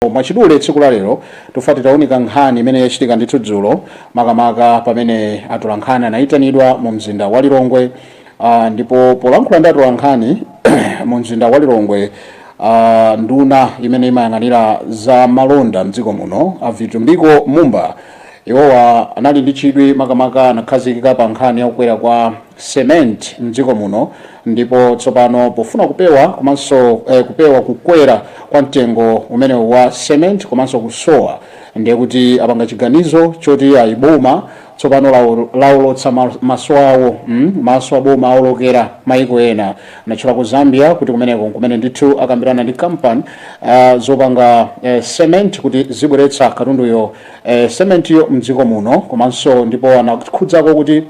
Mwachidule tsiku la lero tufuna titaunika nkhani imene yachitika ndithu dzulo makamaka pamene atolankhani anayitanidwa mu mzinda wa Lilongwe uh, ndipo polankhula ndi atolankhani mu mzinda wa Lilongwe uh, nduna imene imayang'anira za malonda mdziko muno a Vitumbiko Mumba iwowa anali ndi chidwi makamaka anakhazikika pa nkhani ya kukwera kwa cement mdziko muno Ndipo tsopano pofuna kupewa komanso eh, kupewa kukwera kwa mtengo umenewu wa cement komanso kusowa, ndiye kuti apanga chiganizo choti ayi boma tsopano lawo- lawolotsa ma- maso awo mm, maso a boma awolokera maiko ena anatchula ku Zambia kuti kumeneko nkumene ndithu akambirana ndi kampani ah, zopanga eh, cement kuti zizibweretsa katunduyo eh, cementiyo mdziko muno komanso ndipo anakhudzako kuti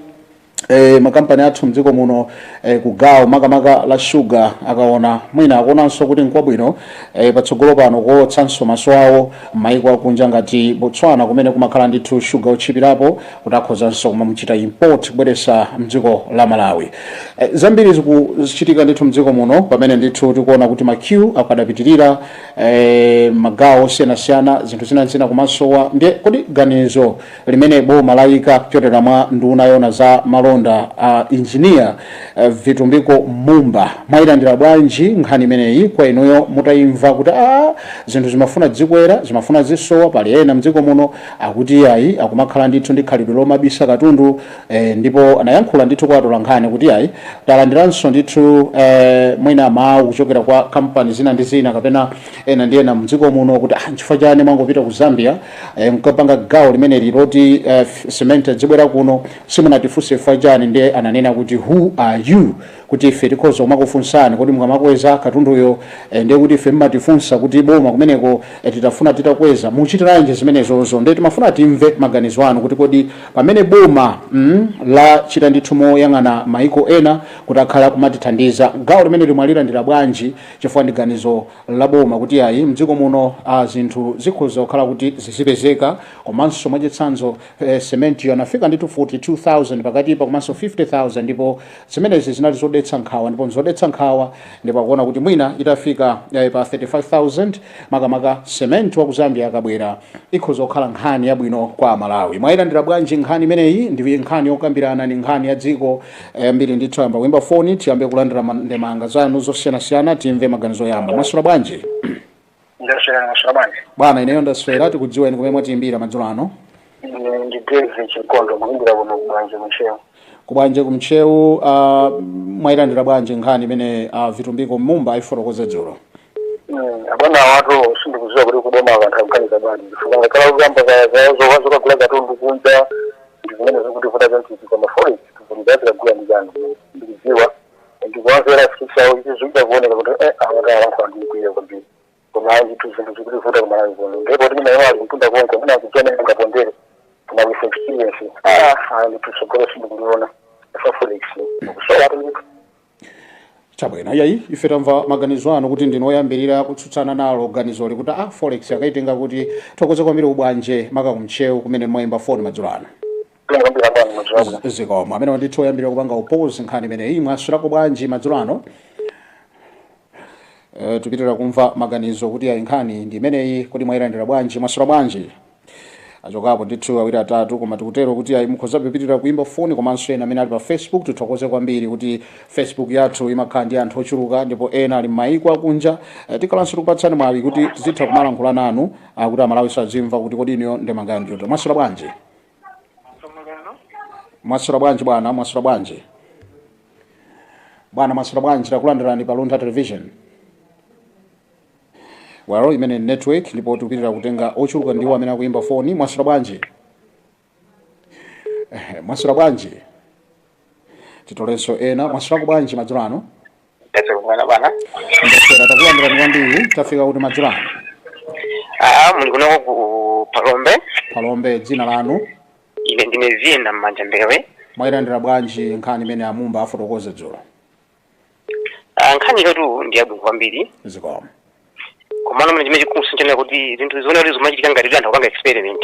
E, makampani athu mdziko muno e, eh, kugawo makamaka la shuga akaona mwina akuonanso kuti nkwabwino e, patsogolo pano kuolotsanso maso awo m'mayiko akunja ngati Botswana kumene kumakhala ndithu shuga wotchipirapo kuti akhozanso kumamchita import kubweretsa mdziko la Malawi. E, zambiri zikuchitika ndithu mdziko muno pamene ndithu tikuona kuti ma queue akadapitirira e, magawo osiyanasiyana zinthu zina zina kumasowa ndiye kodi ganizo limene boma layika kudzera mwa nduna yoona za malonda a Engineer Vitumbiko Mumba, mwayilandira bwanji nkhani imeneyi kwa inuyo mutayimva kuti aah zinthu zimafuna zikwera, zimafuna zisowa, pali ena mdziko muno akuti iyayi akumakhala ndithu ndi khalidwe lomabisa katundu eeh ndipo anayankhula ndithu kwa atolankhani kuti iyayi talandiranso ndithu eeh mwina mawu kuchokera kwa kampani zina ndi zina kapena ena ndi ena mdziko muno kuti aah nchifukwa chani mwangopita ku Zambia e, mkapanga gawo limeneli loti uh, eh, cement adzibwera kuno simunatifunse ife chani ndiye ananena kuti who are you kuti ife tikhoza kumakufunsani kodi mukamakweza katunduyo e, ndiye kuti ife mmatifunsa kuti boma kumeneko e, titafuna titakweza muchitiranji zimenezozo ndiye timafuna timve maganizo anu kuti kodi pamene boma mm, lachita ndithu moyang'ana maiko ena kuti akhala kumatithandiza gawo limeneli mwalilandira bwanji chifukwa ndi ganizo la boma kuti ayi mdziko muno a zinthu zikhoza kukhala kuti zizipezeka komanso mwachitsanzo eh, cementiyo anafika ndithu 42000 pakatipa komanso 50000 ndipo zimenezi zinali zodetsa nkhawa ndipo nzodetsa nkhawa ndipo akuona kuti mwina itafika eh, pa 35000 makamaka cement wa ku zambia akabwera ikhoza kukhala nkhani yabwino kwa amalawi mwayilandira bwanji nkhani imeneyi ndi nkhani yokambirana ndi nkhani ya dziko yambiri ndithu tiyambe kuyimba foni tiyambe kulandira ma- ndemanga zanu zosiyanasiyana timve maganizo oyamba mwaswera bwanji ndaswera ndaswera bwanji bwana ineyo ndaswera tikudziweni kumene mwatiyimbira madzulo ano ine ndi david chikondo kuimbira kuno ku bwanje ku ntcheu ku bwanje ku ntcheu uh, mwayilandira bwanji nkhani imene uh, vitumbiko mumba ayifotokoza dzulo Abwana wathu sindikuziwa kuti kuboma anthu akuganiza bwanji chifukwa ngakhale kuyamba zoka zokagula katundu kunja ndi zimene zikutivuta zantiti koma forex tikuliza tikagula ndi chani ndikuziwa ndikuwamvera chisoni ichi zikutha kuoneka kuti eh awati awanthu andikwiyitsa kwambiri koma ayi ndithu zinthu zikutivuta ku Malawi kuno ndipo timene iwo ali mtunda konko mwina akuchena ndingapondere koma with experience ah ayi ndithu tsogolo sindikuliona pa forex ikusowa kuti chabwino iyayi ife tamva maganizo anu kuti ndinu woyambirira kutsutsana nalo ganizoli kuti a forex akaitenga kuti tithokoze kwambiri a bwana maka ku Ntcheu kumene mmaimba foni madzulo ano ndingombira bwanji madzulo abwino Z- zikomo amene ndithu woyambirira kupanga oppose nkhani imeneyi mwaswirako bwanji madzulo ano Eh, tipitira kumva maganizo kuti ayi nkhani ndi imeneyi kodi mwayilandira bwanji mwaswera bwanji achokapo ndithu awiri atatu koma tikutero kuti ayi mukhoza kupitira kuimba foni komanso ena amene ali pa facebook tithokoze kwambiri kuti facebook yathu imakhala ndi anthu ochuluka ndipo ena ali m'mayiko akunja Eh, tikhalanso tikupatsani mwayi kuti tizitha kumalankhula nanu ah, kuti Amalawi azimva kuti kodi inuyo ndemanga yanjoto mwaswera bwanji Msomaliano. mwaswera bwanji bwana mwaswera bwanji bwana mwaswera bwanji takulandirani pa Luntha television yalowa imene ni network ndipo tikupitira kutenga ochuluka ndiwo amene akuyimba foni mwaswera bwanji Eh, mwaswera bwanji titolenso ena mwaswerako bwanji madzulo ano Ndese kumwena bana. ndaswera takulandirani kwambiri tafika kuti madzulo ano Ah, muli kunoko ku Phalombe. Phalombe dzina lanu Ine ndine Zina Mmanja Mbewe. mwayilandira bwanji nkhani imene a Mumba afotokoza dzulo Ah, nkhaniyotu ndi yabwino kwambiri. zikomo Komano mene chimene chikumusintha kuti zinthu zioneke kuti zikumachitika ngati kuti anthu akupanga experiment.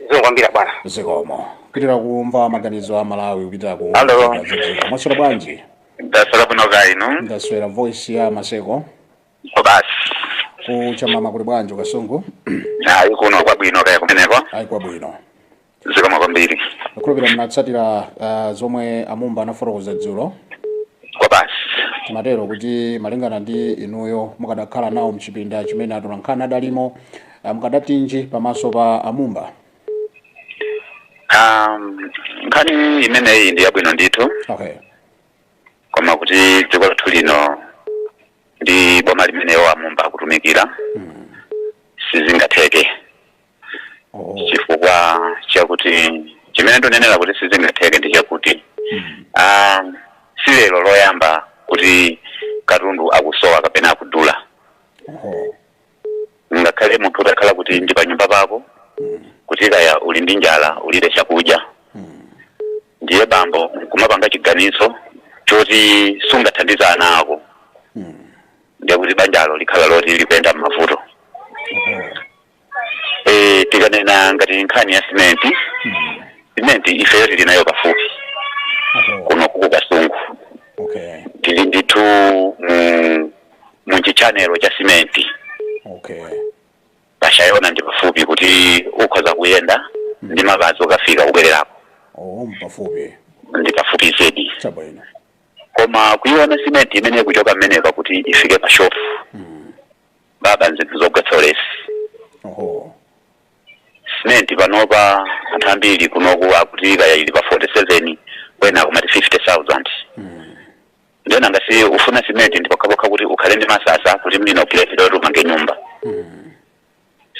zikomo kwambiri bwana zikomo kupitira kumva maganizo Amalawi kupitira ku Hello. mwaswera bwanji ndaswera bwino kaya inu ndaswera voice ya Maseko ko basi ku Chamama kuli bwanji ku Kasungu ayi kuno kwabwino kaya kumeneko ayi kwabwino zikomo kwambiri ndikhulupira munatsatira uh, zomwe a Mumba anafotokoza dzulo ko basi timatero kuti malingana ndi inuyo mukadakhala nawo mchipinda chimene atolankhani adalimo Ah, mukadatinji pamaso pa a Mumba Um, nkhani imeneyi ndi yabwino ndithu okay koma kuti dziko lathu lino ndi boma limene a Mumba akutumikira mm. sizingatheke oh. chifukwa chakuti chimene ndonenera kuti sizingatheke ndi chakuti mm. um, si lero loyamba kuti katundu akusowa kapena akudula oh. ngakhale munthu utakhala kuti ndi panyumba pako kuti kaya uli ndi njala ulibe chakudya ndiye bambo nkumapanga chiganizo choti sungathandiza ana ako ndiye kuti banjalo likhala loti likuyenda m'mavuto Eh, tikanena ngati nkhani ya simenti simenti ifeyo tili nayo pafupi Aho. kuno ku ku kasungu Okay. tili ndithu mu mu chitchanelo cha simenti okay pashayona ndi pafupi kuti ukhoza kuyenda ndi mapazi ukafika kubwererako oh mpafupi ndi pafupi zedi chabwino koma kuiona simenti imene ikuchoka mmeneka kuti ifike pa shopu mm. baba nzinthu zogwetsa ulesi oho simenti panopa anthu ambiri kunoku akuti kaya ili pa 47 kwina akumati 50000 mm. ndiye ngati ufuna simenti ndi pokhapokha kuti ukhale ndi masasa kuti mlina upulesi loti umange nyumba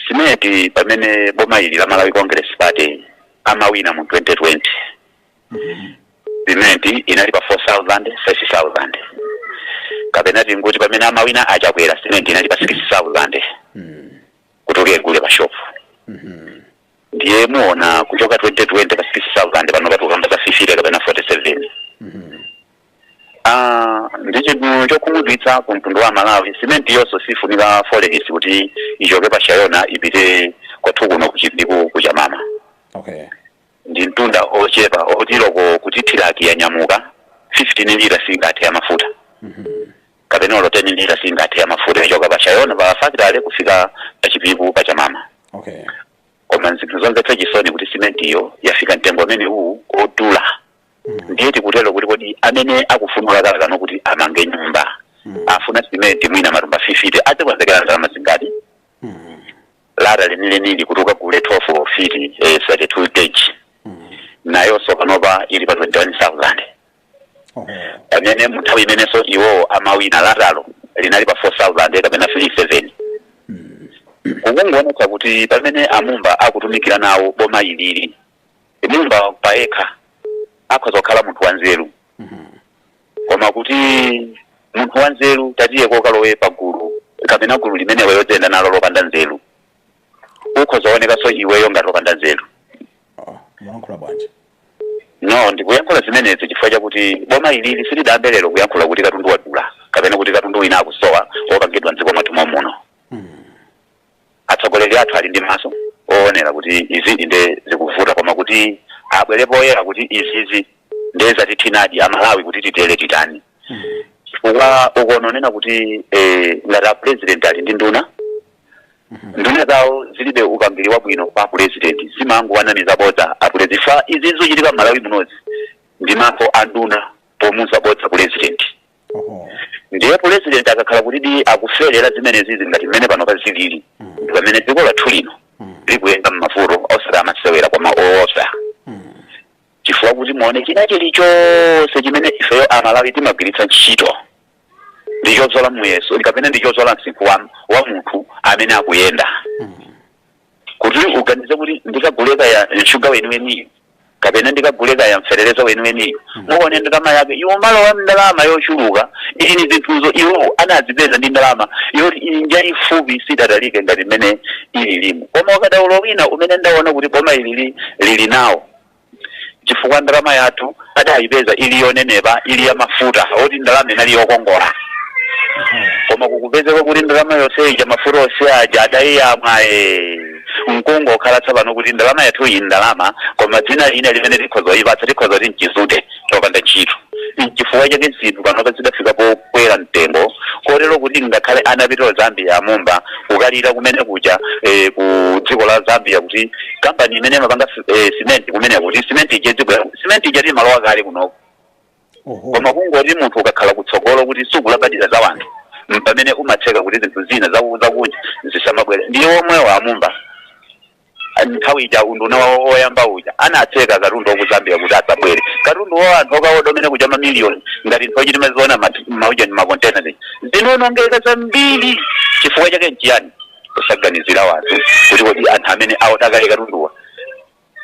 simenti pamene boma ili la malawi congress party amawina mu 2020 simenti inali pa 4000 30000 kapena tinguti pamene amawina achakwera simenti inali pa 6000 kuti ukagule pa shopu ndiye muona kuchoka 2020 pa 6000 pano tikukamba za 50 kapena 47 Ah, ndi chinthu chokhumudwitsa ku mtundu wa amalawi simenti iyonso sifunika forex kuti ichoke pa shayona ipite kwathu kuno kuchipiku kuchamama okay ndi mtunda wochepa woti olo kuti thiraki yanyamuka 15 lita singathe ya mafuta kapena olo 10 lita singathe ya mafuta kuchoka pa shayona pa fakitale kufika pa chipiku pa chamama okay koma nzinthu zomvetsa chisoni kuti simentiyo yafika mtengo amene uwu wodula ndiye tikutero kuti kodi amene akufuna lata akufuna kuti amange nyumba afuna simenti mwina matumba 50 azikonzekera ndalama zingati lata lenilenili kuti ukagule 12 fiti eh, 32 gauge nayonso panopa ili pa 21000 pamene muthawi imenenso iwowo amawina latalo linali pa 4000 kapena 37 kukungoonetsa kuti pamene amumba akutumikira nawo boma ilili amumba payekha akhoza kukhala munthu wanzeru koma kuti munthu wanzeru ndiye akalowe pagulu kapena gulu limenelo oyenda nalo lopanda nzeru ukhoza kuonekanso iweyo ngati opanda nzeru Ah, mulankhula bwanji no ndikuyankhula zimenezi chifukwa chakuti boma ilili silidayambe lero kuyankhula kuti katundu wadula kapena kuti katundu wina akusowa opangidwa mdziko mwathu momuno atsogoleri athu ali ndi maso oonera kuti izizi nde zikuvuta koma kuti abwere poyera kuti izizi nde zatithinadi amalawi kuti titere titani chifukwa ukononena kuti eh, ngati a president ali ndi nduna Nduna zawo zilibe upangili wabwino kwa apulezidenti zimangowanamiza bodza apulezi chifukwa izi zochitika mmalawi munozi ndi manja a nduna pomuza bodza pulezidenti Oho. ndiye pulezidenti akakhala kuti di akufelera zimenezizi ngati mmene panopa zilili ndi pamene dziko lathu lino likuyenda mmavuto osati masewera koma oopsa chifukwa kuti muone china chilichonse chimene ifeyo amalawi timagwiritsa ntchito ndi chobzola muyeso kapena ndi chobzola msinkhu wa, wa munthu amene akuyenda kuti uganize kuti ndikagule kaya shuga weniweniyo kapena ndikagule kaya feteleza weniweniyo muone ndalama yake ikumalowa ndalama yochuluka ili ni zinthuzo iwo anazipeza ndi ndalama yoti njaifupi sidatalike ngati mmene ililimu koma ukadaulo wina umene ndaona kuti boma ili li- lili nawo chifukwa ndalama yathu adayipeza ili yonenepa ili ya mafuta oti ndalama inali yokongola koma kukupezeka kuti ndalama yonse ija mafuta onse aja adayiyamwa eh, mkungu okhala tsapano kuti ndalama yathu iyi ndalama koma dzina lina limene tikhoza kuyipatsa tikhoza kuti mchizute chopanda ntchito nchifukwa chake zinthu panopa zidafika pokwera mtengo kotero kuti ngakhale anapita ku zambia amumba kukalira kumene kuja eh, ku dziko la zambia kuti kampani imene imapanga eh, simenti kumene kuti simenti ija dziko la- simenti ija imalowa kale kunoko oho koma kungoti munthu ukakhala kutsogolo kuti sukulabadira za wanthu mpamene umatseka kuti zinthu zina zaku- zakunja zisamabwere ndiye omwewa amumba nthawi ija unduna wawo woyamba uja anatseka katundu wa ku zambia kuti asabwere katundu wa anthu okaoda kumene kuja mamiliyoni ngati nthawi ija timaziona muja ni makontena zija zinaonongeka zambiri chifukwa chake nchiyani kusaganizira wanthu kuti kodi anthu amene aoda kale katunduwa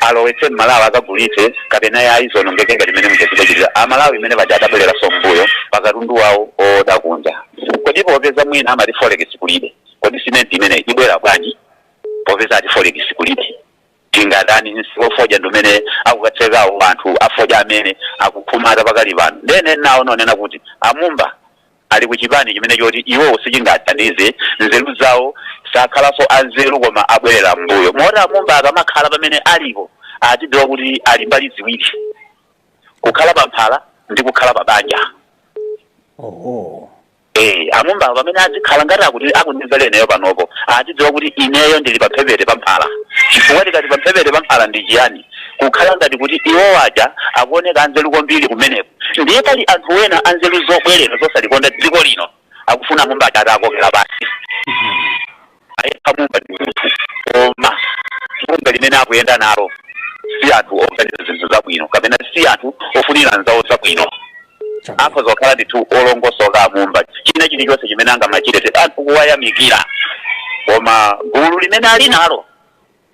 alowetse mmalawi akagulitse kapena ayi zionongeke ngati mmene muchachitachitira amalawi mmene paja adabwereranso mmbuyo pakatundu wawo oda kunja kodi popeza mwina amati forex kulibe kodi simenti imeneyi ibwera bwanji popeza ati forex kulibe tingatani msika wa fodya ndi umene akukatsekawo anthu afodya amene akukhumata pakali pano ndene nawo ndanena kuti amumba ali ku chipani chimene choti iwowo sichingathandize nzeru zawo sakhalanso anzeru koma abwerera mmbuyo moti amumba akamakhala pamene alipo adziwe kuti ali mbali ziwiri kukhala pamphala ndi kukhala pa banja oho Ee, amumbawo pamene adzikhala ngati akuti akundimvera ineyo panopo, adzidziwa kuti ineyo ndili pamphepete pa mphala. Chifukwa tikati pamphepete pa mphala ndi chiyani? Kukhala ngati kuti iwowo aja akuoneka anzeru kwambiri kumeneko. Ndiye pali anthu ena anzeru zobwerera zosalikonda dziko lino akufuna amumba aja atakokera pansi. ayekha amumba ndi munthu koma gulu limene akuyenda nalo si anthu oganiza zinthu zabwino kapena si anthu ofunira anzawo zabwino. akhoza kukhala ndithu olongosoka amumba china chilichonse chimene angamachite anthu kuwayamikira koma gulu limene ali nalo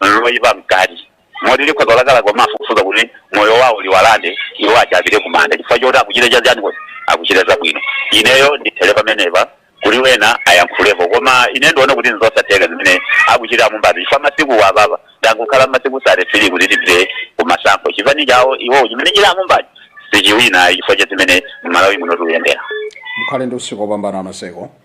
nalo loyipa mkati moti likhoza kulakalaka kumafufuza kuti moyo wawo liwalande iwo aja apite kumanda chifukwa choti akuchita chaziyani kuti akuchita zabwino ineyo ndithere pamenepa kuti wena ayankhulepo koma ine ndikuona kuti nzosatheka zimene akuchita amumbazi chifukwa masiku apapa kwangokhala masiku sate firii kuti tipite kumasankho chipani chawo iwowo chimene ali amumbachi sichiwina chifukwa cha zimene mmalawi muno tikuyendera mukhale ndi usiku wopambana maseko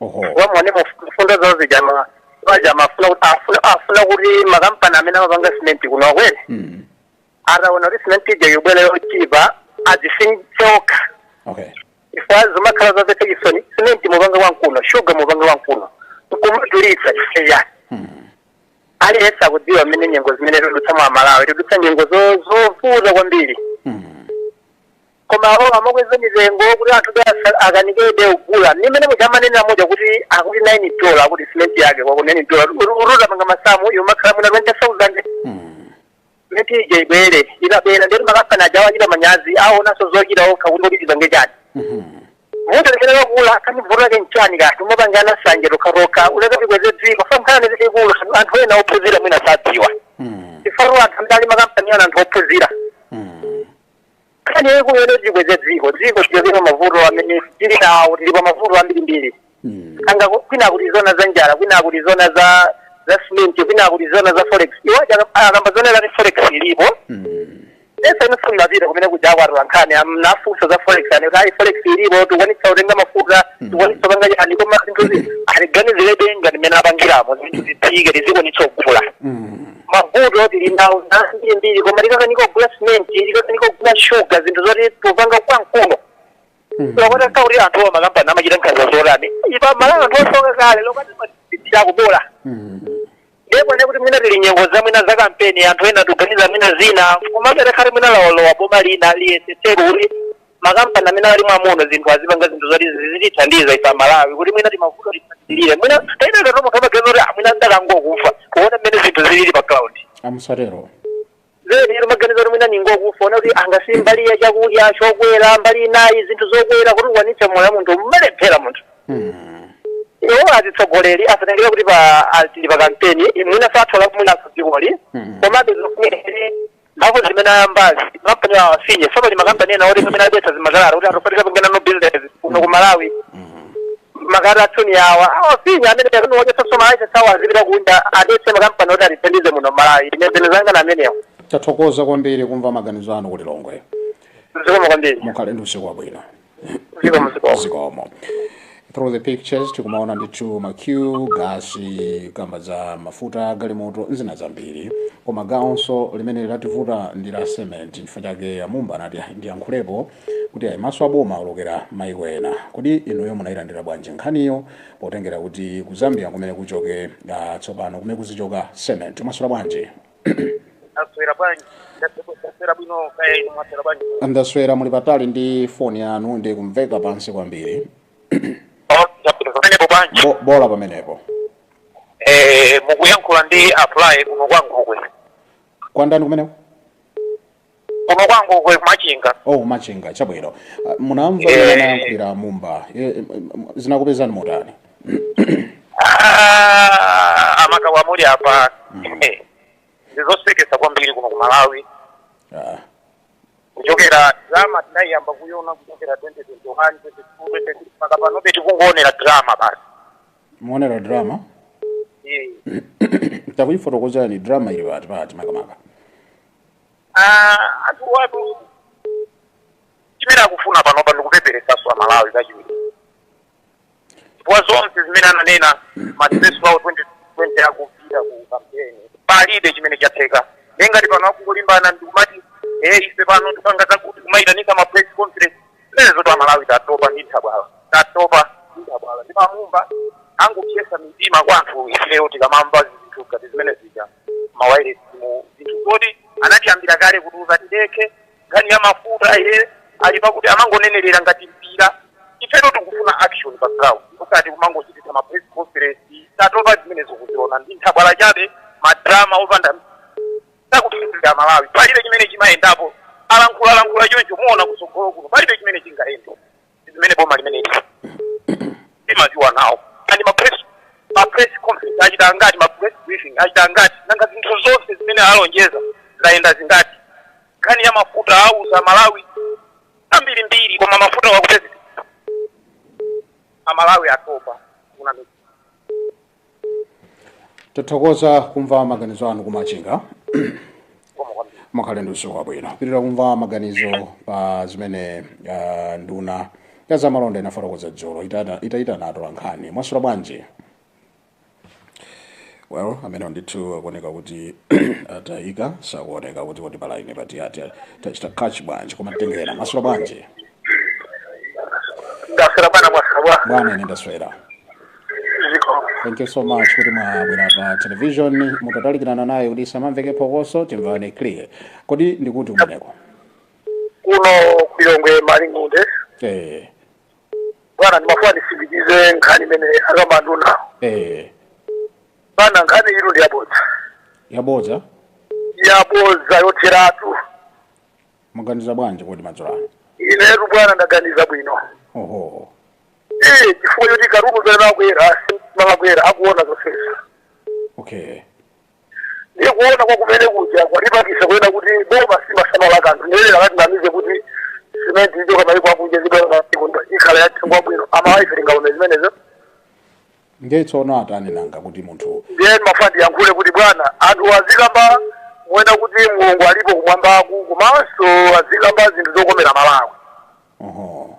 oho aone mfundo zawo zija ma- paja amafuna kuti amafuna kuti makampani amene amapanga simenti kuno akweze mm. ataona kuti simenti ija ibwere yochipa adzitsitsa okay chifukwa zimakhala zomvetsa chisoni simenti mupanga konkuno shuga mupanga konkuno nkumadulitsa chifukwa chani aliyense akudziwa mmene nyengo zimene tikudutsamo amalawi tikudutsa nyengo zo- zovuta kwambiri mm. koma awo amakweza mitengo kuti anthu be asa- akanikebe kugula nde mmene muja amanenera moja kuti akuti 9 dola akuti cement yake kwawoko 9 dola ukati upange masamu imakhala mwina 20000 cement ija ibwere inabwera ndeti makampani aja achita manyazi asowanso zochita okha kuti kodi tipange chani munthu limene wakula akamivura ke nchani kati timapangana sanje tokhatokha kuleka tikweze dziko famkhana nezikulu anthu ena ophunzira mwina sadziwa chifukwa anthu amene ali makampani aja ndi anthu ophunzira nkhani yaikulu ione tikweze dziko dziko lichoke pa mavuto amene tili nawo tili pa mavuto ambirimbiri Mm. anga ku- kwina kutizuna za njala kwina kutizuna za za simenti kwina kutizuna za forex iwo aja- akamba zonena kuti forex ilipo Mm. ese inofuna mapita kumene kuja kwa atolankhani anawafunsa za forex ati kuti ayi forex ilipo tikwanitsa kutenga mafuta tikwanitsa kupanga chani koma zinthuzi atiganizirebe ngati mmene apangiramo zinthu zitsike tizikwanitsa kugula Mm. mavuto tili nawo ambirimbiri koma tikukanika kugula simenti tikukanika kugula shuga zinthu zoti tikupanga konkuno mpaka kuti anthu a makampani amachita nkhanza zotani ife amalawi anthu osauka kale lokati matipitira kubola ndipo ne kuti mwina tili mnyengo za mwina za kampeni anthu ena akuganiza mwina zina komabe takhale mwina likalowa boma lina liyesetse kuti makampani amene ali mwa muno zinthu azipanga zinthu zoti zizitithandiza ife amalawi kuti mwina timavuto tisatilire mwina taitata tomunthu amaganiza kuti "Ah, mwina ndikangokufa kuona mmene zinthu zilili pa ground amusatero zedi iri maganizo kuti mwina ndingokufa ona kuti angasi mbali ya chakudya chokwera mbali inayi zinthu zokwera kuti ukwanitse moyo wa munthu amalephera munthu iwo atsogoleri asatengere kuti pa ali pa kampeni mwina sathola kumwina dzikoli komabe zofunikire mphamvu zimene ayambazi makampani awo afinye so pali makampani ena oti pamene adetsa zimakalata kuti atopatira pang'ono no business kuno ku malawi ma cartel tsono awa awafinya amene akuni wadyetsa ma license awo azipita kunja adetse makampani oti atithandize muno malawi ine zinthu zanga na amenewo tathokoza kwambiri kumva maganizo anu ku lilongwe zikomo kwambiri mukhale ndi usiku wabwino zikomo zikomo zikomo through the pictures tikumaona ndithu ma queue pa gasi kamba za mafuta galimoto nzina zambiri koma gawonso limene lativuta ndi la cement chifukwa chake amumba anati "Ah, ndiyankhulepo kuti ayi maso aboma aolokera maiko ena kodi inuyo munayilandira bwanji nkhaniyo potengera kuti ku zambia kumene kuchoke ah, tsopano kumene kuzichoka cement mwaswera bwanji aswera bwanji ndaswera bwino kaya inu mwaswera bwanji ndaswera muli patali ndi foni yanu mukumveka pansi kwambiri pamenepo bwanji Bo- bola pamenepo Eh, mukuyankhula ndi apply kuno kwa ngokwe kwandani kumeneko kuno kwa ngokwe kumachinga oh machinga chabwino Ah, munamva Eh. mmene anayankhulira mumba Eh, eh, m- zinakupezani motani Ah, amakawa muli apa Eh, ndizosekesa kwambiri kuno ku malawi Ah, kuchokera drama tinayiyamba kuyona kuchokera 2021 2022 mpaka panobe tikungoonera drama basi mukuonera drama Eh, takuyifotokozani drama ili pati pati makamaka Ah, anthu awatu chimene akufuna panopa ndikupeperesaso amalawi kachiwiri chifukwa zonse zimene ananena ma address awo 2020 akupita ku kampeni palibe chimene chatheka nde ngati pano akungolimbana ndikumati e ife pano tikupanga zakuti kumayitanisa ma press conference zimenezotu amalawi tatopa ndi nthabwala tatopa ndi nthabwala ndipo amumba angopsetsa mitima kwa anthu ifeyo tikamamva zinthu ngati zimene zija ma wailesimu zinthu zoti anayambira kale kutiuza tidekhe nkhani ya mafuta ye ali pakuti amangotisewerera ngati mpira ifetu tikufuna action pa ground osati kumangochititsa ma press conference tatopa zimenezo tikuziona ndi nthabwala chabe madrama opanda zakuthandizira malawi palibe chimene chimayendapo alankhula alankhula choncho muona kutsogolo kuno palibe chimene chingayende zimene boma limene timaziwa nawo and ma press ma press conference achita angati ma press briefing achita angati nanga zinthu zonse zimene alonjeza zayenda zingati nkhani ya mafuta auza aMalawi ambirimbiri koma mafuta sakupezeka aMalawi atopa kuna tathokoza kumva maganizo anu ku Machinga mukhale ndi usiku wabwino tipitirira kumva maganizo pa zimene ah, nduna ya zamalonda inafotokoza dzulo Itata- itayitana atolankhani mwaswera bwanji well amene ndithu akuoneka kuti atayika sakuoneka kuti kuti palaine pati ati tachita catch bwanji koma tengera mwaswera bwanji ndaswera bwana mwaswera bwana ine ndaswera ziko thank you so much kuti mwabwera pa television mutatalikirana nayo kuti pasamamveke phokoso timvane clear kodi ndi kuti kumeneko kuno ku Lilongwe Malingunde eh bwana ndimafuna nditsindikize nkhani imene akamba anduna eh bwana nkhani ino ndi yabodza yabodza yabodza yotheratu muganiza bwanji kodi madzulo ano inetu bwana ndaganiza bwino oho Iye chifukwa choti katundu mmene akukwera imakwera akuona zonsezi okay ndiye kuona kwa kumene kuja kwatipangisa kuona kuti boma simasamala kanthu ndiyelera kutinamiza kuti simenti ichoka maiko akunja zibwera maiko ndo ikhala ya mtengo wabwino aMalawi ife tingaone zimenezo ndiye tsono atani nanga kuti munthu ndiye ndimafuna ndiyankhule kuti bwana anthu azikamba moona kuti mulungu alipo kumwambaku komanso azikamba zinthu zokomera Malawi oho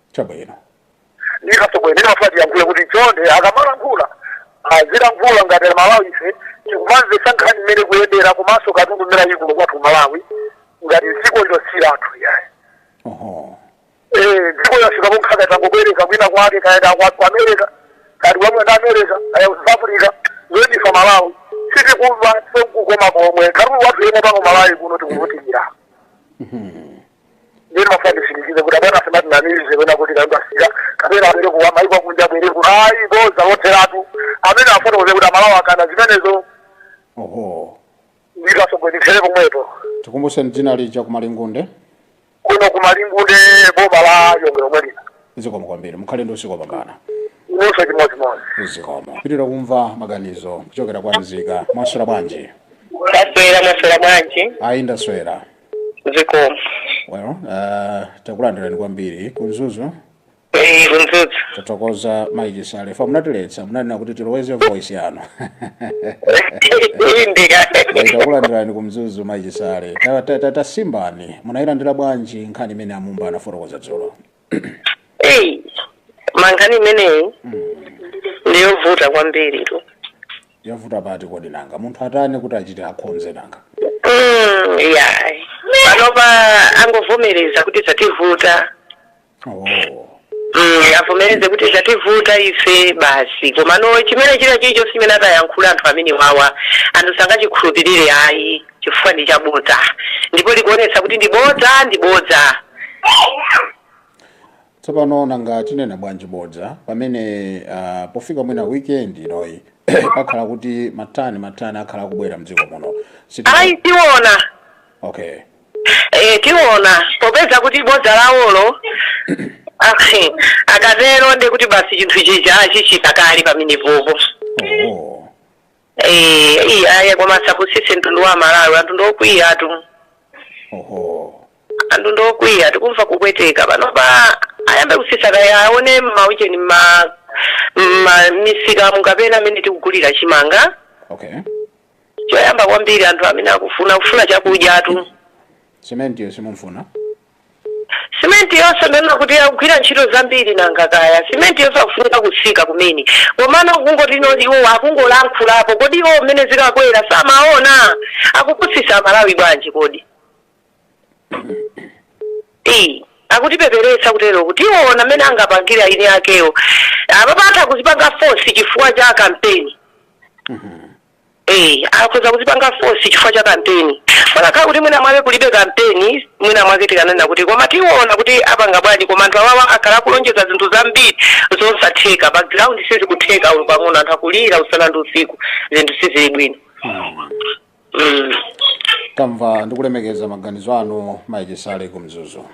chabwino ife atsogoleri ndimafuna ndiyankhule kuti chonde akamalankhula azilankhula ngati aMalawi ife tikumamvetsa nkhani mmene ikuyendera komanso katundu mmene alili kuno kwathu Malawi ngati dziko lilosira anthu iyayi oho Eh, dziko lafika ponkhaza tangobwereka kwina kwake kaya ndi kwathu ku America kaya wa mmene ndi America kaya ku South Africa zoti ife aMalawi sitikumva sekukoma komwe katundu wathu yemwe pano Malawi kuno tikuvutikira ndiye ndimafuna nditsindikize kuti abwana asamatinamize wena kuti kaimba sika kapena abwere ku maiko akunja abwere ku ayi boza lotheratu amene afotokoze kuti aMalawi akana zimenezo oho ndito asogwendisere pomwepo tikumbuseni dzina lija ku Malingunde kuno ku Malingunde boma la Lilongwe lomwe lino zikomo kwambiri mukhale ndi usiku wabwino inunso chimodzimodzi zikomo tipitirira kumva maganizo kuchokera kwa mzika mwaswera bwanji ndaswera mwaswera bwanji ayi ndaswera zikomo well uh, takulandirani kwambiri ku Mzuzu Eh, ku Mzuzu tathokoza mayi Chisale paja munatiletsa munanena kuti tiloweze voice yanu indika Well, takulandirani ku Mzuzu mayi Chisale Ta- ta- ta- tasimbani munayilandira bwanji nkhani imene a Mumba anafotokoza dzulo eyi mankhani imeneyi ndiyovuta kwambiritu yavuta pati kodi nanga munthu atani kuti achite akhonze nanga Mm, yayi panopa angovomereza kuti zativuta oh. Mm, avomereze kuti zativuta ife basi komano chimene china chilichonse chimene atayankhule anthu amenewawa anthu sangachikhulupirire ayi chifukwa ndi chabodza ndipo likuonetsa kuti ndi bodza ndi bodza tsopano nanga tinena bwanji bodza pamene uh, pofika mwina weekend inoyi akhala kuti matani matani akhala akubwera mdziko muno Siti- ayi tiona okay e, tiona popeza kuti bodza lawolo akhe, akatero ndi kuti basi chinthu chija achichita kale pamenepopo oh. Eh, iyi aya koma asapusise mtundu wa Amalawi anthu ndiokwiyatu oho anthu ndiokwiya tikumva kupweteka panopa ayambe kusisa kaya aone m'maucheni ma ma misikamu kapena amene tikugulira chimanga okay choyamba kwambiri anthu amene akufuna kufuna chakudyatu sementiyo simumfuna Simenti yonse ndaona kuti ikugwira ntchito zambiri nanga kaya simenti yonse ikufunika kutsika kumene komano kungoti noti iwo akungolankhulapo kodi iwo mmene zikakwera samaona akupusisa amalawi bwanji kodi eyi akutipeperetsa kutero kuti aona mmene angapangira ini akewo amapatha kuzipanga fosi chifukwa cha kampeni Eh, akhoza kuzipanga force chifukwa cha kampeni kunakakhala kuti mwina mwake kulibe kampeni mwina mwake tikananena kuti koma tiona kuti apanga bwanji koma anthu awawa akhala akulonjeza zinthu zambiri zosatheka pa ground sizikutheka olo pang'ono anthu akulira usana ndi usiku zinthu sizili bwino mm. tamva ndikulemekeza maganizo anu mayi Chisale ku Mzuzu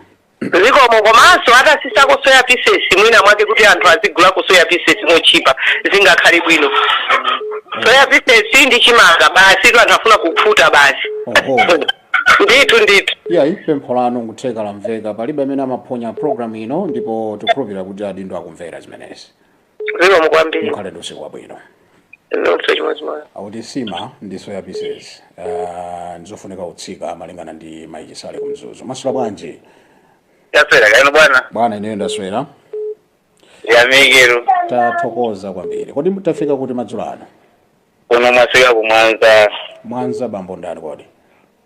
zikomo komanso atasisako soya pieces mwina mwake kuti anthu azigulako soya pieces motchipa zingakhale bwino soya pieces ndi chimanga basitu anthu afuna kukhuta basi Oho. ndithu ndithu iya pempho lanu nkutheka lamveka palibe amene amaphonya programu ino ndipo tikhulupirira kuti adindo akumvera zimenezi zikomo kwambiri mukhale ndi usiku wabwino ndikuti chimodzimodzi akuti sima ndi soya pieces uh, ndizofunika kutsika malingana ndi mayi Chisale ku Mzuzu mwaswera bwanji taswera kaya inu bwana bwana ineyo ndaswera yamikani tathokoza kwambiri kodi tafika kuti madzulo ano kuno mwaswera ku Mwanza Mwanza bambo ndani kodi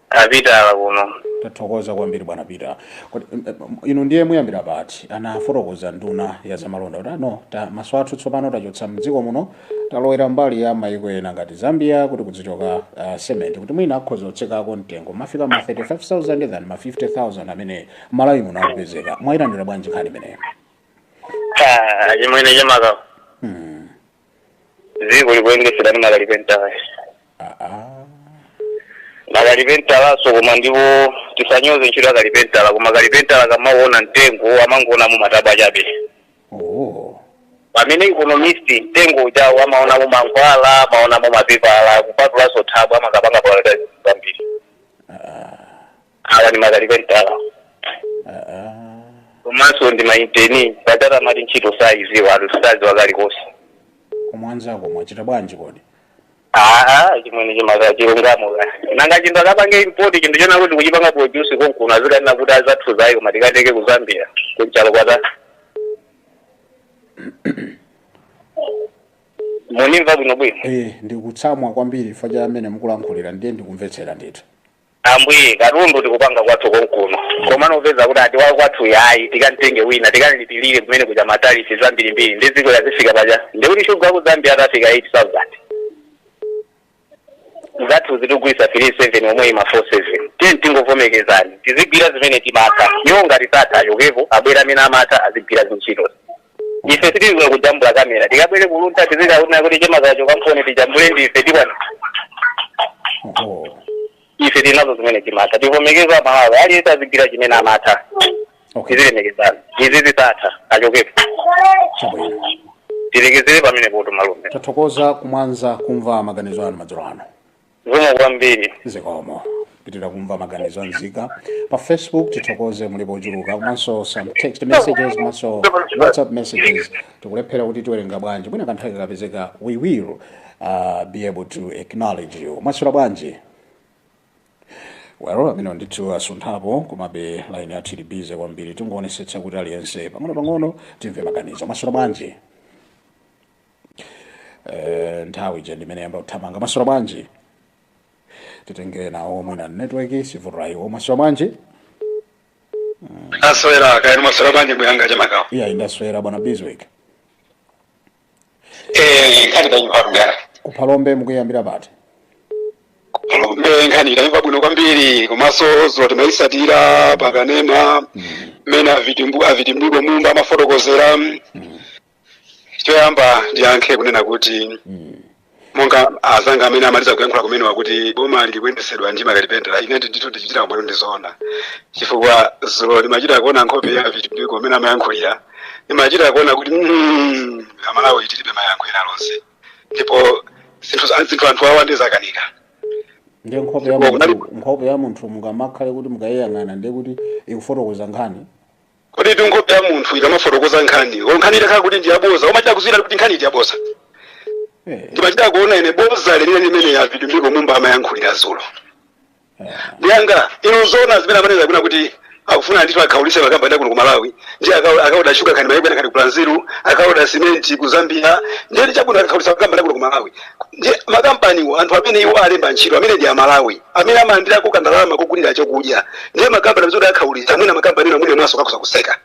a pitala kuno tathokoza kwambiri bwana pitala Kodi, em, em, inu ndiye muyambira pati anafotokoza nduna ya zamalonda kuti ano ta maso athu tsopano tachotsa mdziko muno talowera mbali ya mayiko ena ngati zambia kuti kuzichoka uh, cement kuti mwina akhoza kutsikako mtengo kumafika ma 35000 than ma 50000 amene malawi muno akupezeka mwayilandira bwanji nkhani imeneyo Ah, chimwene chemakawa dziko likuyendesedwa ndi makalipentala makalipentalanso koma ndipo tisanyoze ntchito ya kalipentala koma kalipentala akamaona mtengo amangoonamo matabwa chabe oh. pamene economist mtengo ujawo amaonamo mankhwala amaonamo mapepala kupatulaso thabwa amakapanga pakalitazi kwambiri awa ndi makalipentala komanso ndi mainteni patata amati ntchito sayiziwa anthu saziwa kalikonse kumwanzako mwachita bwanji kodi aa chimwene chemaka chilungamo ka nanga chinthu akapange import chinthu chonena kuti tikuchipanga produce konkuno azikanena kuti zathuzi ayi koma tikatenge ku zambia kunchalo kwata munimva bwinobwino eh ndikutsamwa kwambiri chifukwa cha amene mukulankhulira ndiye ndikumvetsera ndithu Ambuye katundu tikupanga kwathu konkuno komano upeza kuti ati wakwathuyi ayi tikamtenge wina tikalipilire komwe kuja matarifi zambirimbiri ndi dziko yazifika paja ndiye kuti shuga ku zambia atafika 8000 zathu azitigulitsa 37 omweyi ma 47 tiye tingovomekezani tizigwira zimene timatha iwo ngati satha achokepo abwere amene amatha azigwira zintchito ife sitiziwa kujambula kamera tikabwere ku luntha tizikaona kuti chemaka chokamponi tijambule ndi ife tikwana oho ife tinazo zimene timatha tivomekeze amalawi aliyense azigwira chimene amatha okay tizilemekezana asatha achokepo chabwino tilekezere pomwepoto malume tathokoza kumwanza kumva maganizo anu madzulo ano zikomo kwambiri zikomo pitala kumva maganizo anzika pa facebook tithokoze mulipo ochuluka komanso some text messages komanso whatsapp messages tikulephera kuti tiwerenge bwanji mwina kanthawi kakapezeka we will uh, be able to acknowledge you mwaswera bwanji well amene ndithu asunthapo komabe line yathu ili bize kwambiri tingoonetsetsa kuti aliyense pang'ono pang'ono timve maganizo mwaswera bwanji Eh, nthawi ija ndimene yayamba kuthamanga mwaswera bwanji titenge enawo mwina network ikuvuta iwo mwaswera bwanji aswera kaya inu mwaswera bwanji bwana chemakawa iya ndaswera bwana biswick eh nkhani ndayimva kugara kuphalombe mukuyambira pati kuphalombe nkhani ndayimva bwino kwambiri komanso dzulo timayisatira pakanema mmene avitimbu avitimbiko mumba amafotokozera choyamba ndiyankhe kunena kuti monga azanga amene amaliza kuyankhula kumenewa kuti boma likuyendesedwa ndi makalipentala ine ndithu ndichitira umboni ndizona chifukwa zulo ndimachita kuona nkhope ya Vitumbiko amene amayankhulira ndimachita kuona kuti mm, amalawi tilibe mayankho ena alionse ndipo zinthu za- zinthu anthu awa zawakanika ndiye nkhope ya Ndipo munthu nkhope ya munthu mungamakhale kuti mukayiyang'ana ndiye kuti ikufotokoza nkhani Koditu nkhope ya munthu ikamafotokoza nkhani ko nkhani itakhala kuti ndi yaboza umachita kudziwa kuti nkhaniyi ndi yaboza Eh, ndimachita kuona ine boza lenileni limene a Vitumbiko Mumba amayankhulira zulo ah, ndiye nanga inu zoona zimene amanena zakuti akufuna ndithu akhaulise makampani a kuno ku malawi ndiye akau- akaoda shuga kaya maiko ena kaya ku brazil akaoda simenti ku zambia ndiye ndi chabwino akakhaulisa makampani a kuno ku malawi ndi makampaniwo anthu amene iwo alemba ntchito amene ndi amalawi amene amalandirako kandalama kogulira chokudya ndiye makampani amene akakhaulitsa mwina makampani ena mwina mawaso akhoza kuseka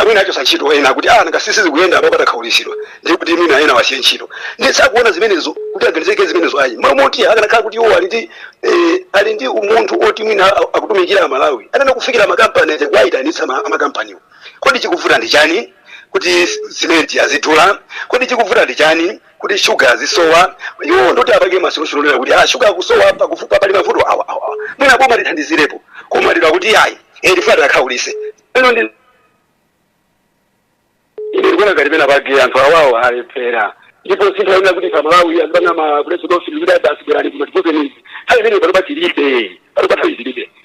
mwina achosa ntchito ena akuti ah nanga sizikuyenda apa patakhaulitsidwa ndiye kuti mwina ena awasiye ntchito ndiye sakuona zimenezo kuti aganizeko zimenezo ayi mwamoti akanakhala kuti iwo ali ndi eh, ali ndi umunthu oti mwina a- akutumikira amalawi akanafikira makampani aja kuwayitanitsa ma- makampaniwo kodi chikuvuta ndi chani kuti simenti azidula kodi chikuvuta ndi chani kuti shuga azisowa iwo ndoti apange masolution onena kuti ah, shuga akusowa chifukwa pali mavuto awa awa awa. mwina boma lithandizirepo koma lero kuti ayi eh, tifuna tiakhaulise ine ndiye ine ndikuona ngati pena pake anthu awawo alephera ndipo sindikuona kuti pamalawi azipanga ma press briefing kuti adasiberani kuno tipozenizi nthawi imene pano patilibe pano pathawi zilibe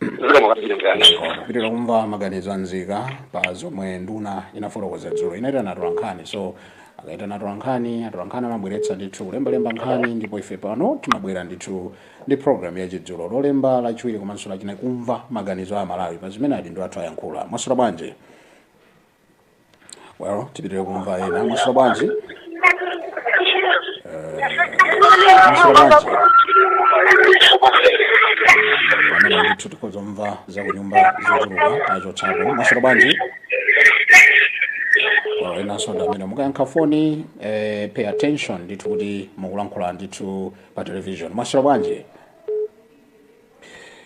zikomo kwambiri mzanga tipitire kumva maganizo anzika pa zomwe nduna inafotokoza dzulo inaitana atolankhani so akaitana atolankhani atolankhani amabweretsa ndithu kulembalemba nkhani ndipo ife pano timabwera ndithu ndi programu ya chidzulo lolemba lachiwiri komanso lachinayi kumva maganizo a amalawi pa zimene adindo athu ayankhula mwaswera bwanji well tipitire kumva ena mwaswera bwanji pamene ndithu tikungomva za kunyumba zochuluka tachotsapo mwaswera bwanji Well, enanso ndi amene mukayankha foni eh, pay attention ndithu kuti mukulankhula ndithu pa television mwaswera bwanji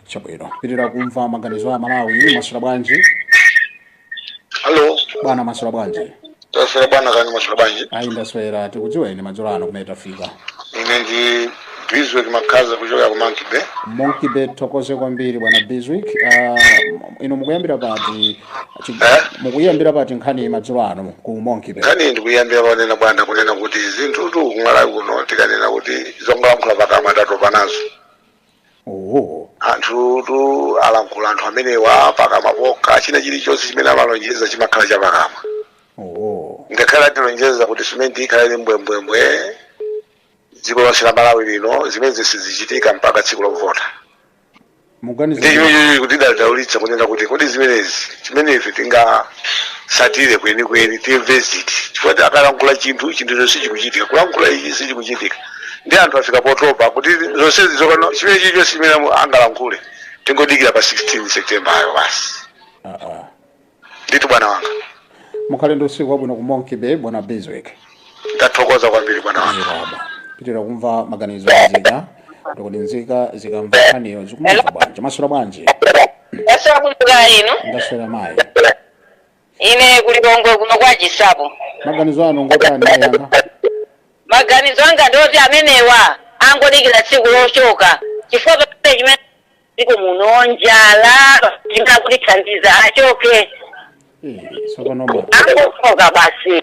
chabwino tipitire kumva maganizo a malawi mwaswera bwanji Hello. bwana mwaswera bwanji Taswera bwana kaya mwaswera bwanji. ayi ndaswera tikudziweni madzulo ano kumene tafika Ine ndi Bizwick Makaza kuchokera ku Monkey Bay. monkey bay tithokoze kwambiri bwana bizwick uh, inu mukuyambira pati chi- Eh? mukuyambira pati nkhani madzulo ano ku monkey bay Nkhani ndikuyambira ponena bwana kunena kuti zinthutu kumalawi kuno tikanena kuti zongolankhula pakamwa tatopa nazo. Oh. anthutu alankhula anthu amenewa pakamwa pokha china chilichonse chimene amalonjeza chimakhala chapakamwa Oh. ngakhale atilonjeza kuti simenti ikhale ili mbwembwembwe dziko lonse la malawi lino zimenezi sizichitika mpaka tsiku lovota Muganiza ndi kuti- chimenechi kuti tidadaulitsa kunena kuti kodi zimenezi chimene ife tingasatire kwenikweni timve ziti chifukwa akalankhula chinthu chinthucho sichikuchitika kulankhula ichi sichikuchitika ndi anthu afika potopa kuti zonsezi zapano chimene chilichonse chimene amu- angalankhule tingodikira pa 16 september apo basi Ah, ah. ndithu bwana wanga mukhale ndi usiku wabwino ku monkey bay bwana biswick ndathokoza kwambiri bwana wanga ziraba pitira kumva maganizo a nzika kuti kodi nzika zikamva nkhaniyo zikumva bwanji mwaswera bwanji Ndaswera kaya inu. ndaswera mayi ine ku lilongwe kuno kwa chisapo maganizo anu ngotani ayanga maganizo anga ndi oti amenewa angodikira tsiku lochoka chifukwa pamene chimene dziko muno njala chimene akutithandiza achoke Eh, tsopano bwa angochoka basi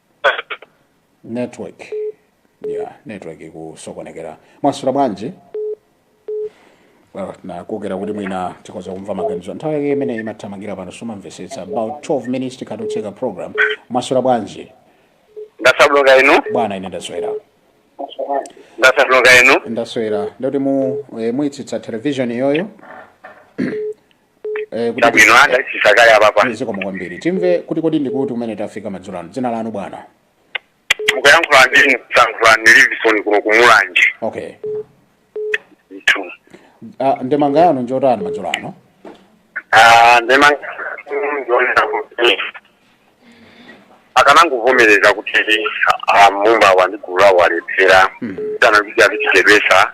network yeah network ikusokonekera mwaswera bwanji Well, ndakutera kuti mwina tikoza kumva maganizo nthawi yake imene imathamangira pano sumamvesetsa about 12 minutes tikhala titseka program mwaswera bwanji ndasabuluka inu bwana ine ndaswera ndasabuluka inu ndaswera ndi kuti mu eh, mutsitse television iyoyo Eh, kuti- chabwino anda chisakale apapa zikomo kwambiri timve kuti kodi ndi kuti kumene tafika madzulo ano dzina lanu bwana mukuyankhula ndi ine kusankhulani livison kuno ku mulanje okay ndithu Ah, ndemanga yanu njotani madzulo ano Ah, ndema ndi yonena kuti akanangovomereza kuti ah, mumba wandigula walephera kapena kuti azitichedwetsa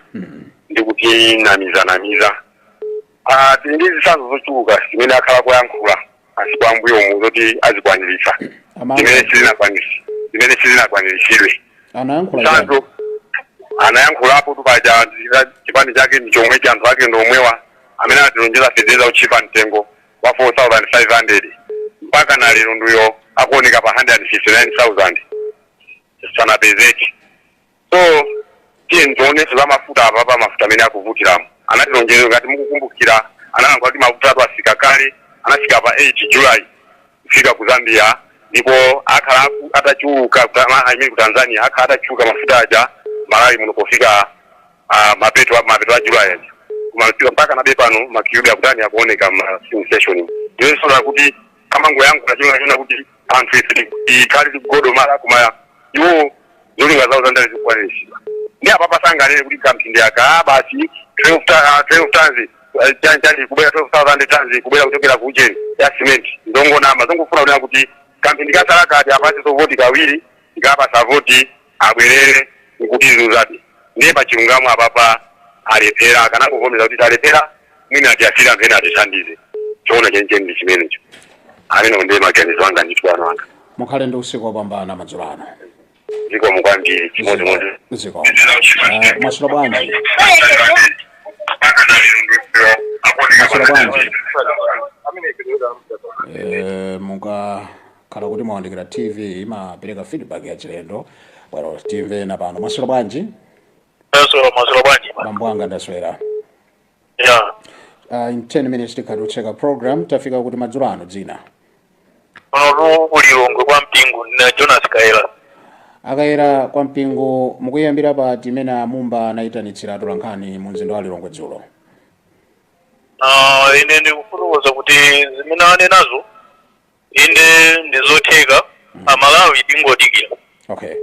ndi kutinamizanamiza Ah, tili ndi zitsanzo zochuluka zimene akhala akuyankhula masiku ambuyomu zoti azikwaniritsa Amanga. zimene sizinakwanisi- zimene sizinakwaniritsidwe anayankhula mwachitsanzo anayankhulapo kuti paja zika- chipani chake ndi chomwechi anthu ake ndi omwewa amene atilonjeza feteleza wotchipa mtengo wa 4500 mpaka na lero ndi uyo akuoneka pa 159000 sanapezeke so tiyeni tionenso za mafuta apa pa mafuta amene akuvutirabe anatilonjeza ngati mukukumbukira analankhula kuti mafuta atu afika kale anafika pa 8 july kufika ku zambia ndipo akhala aku- atachuluka kuta- ma- I mean ku tanzania akhala atachuluka mafuta aja malawi muno pofika ah, mapeto a- mapeto a july aja kumafika mpaka nane pano makiyubi akutani akuoneka mmastation ndiye zonse zakuti amangoyankhula cholinga chonena kuti anthu ife tikhale tikugodomala koma iwo zolinga zawo zandale zikwaniritsidwe ndiye apa pangonena kuti kamphindi aka ah, basi 12 ta- ah, 12 tons eh, chani chani kubwera 12000 tons kubwera kuchokera ku ujeni ya cement ndongonama zongofuna kunena kuti kamphindi kasalaka atipatsenso voti kawiri tikawapatsa voti abwerere nkuti zuzati ndiye pachilungamo apapa alephera akanangovomereza kuti talephera mwina atisiyire anthu ena atithandize choona chenicheni ndi chimenecho amenewo ndiye maganizo anga ndithu bambo anga mukhale ndi usiku wopambana madzulo ano zikomo kwambiri chimodzimodzi zikomo Eh, mwaswera bwanji mwaswera bwanji Eh, mukakhala kuti mwawandikira tv imapereka feedback yachilendo bwerani timve apano mwaswera bwanji Taswera mwaswera bwanji. bambo anga ndaswera Ya. uh, in 10 minutes tikhala tikutseka program tafika kuti madzulo ano dzina Panotu ku Lilongwe kwa mpingo na Jonas Kayera. a Kayera kwa mpingo mukuyambira pati zimene a Mumba anayitanitsira atolankhani mu mzinda wa lilongwe dzulo Ah, ine ndikufotokoza kuti zimene anenazo inde ndizotheka amalawi tingodikira okay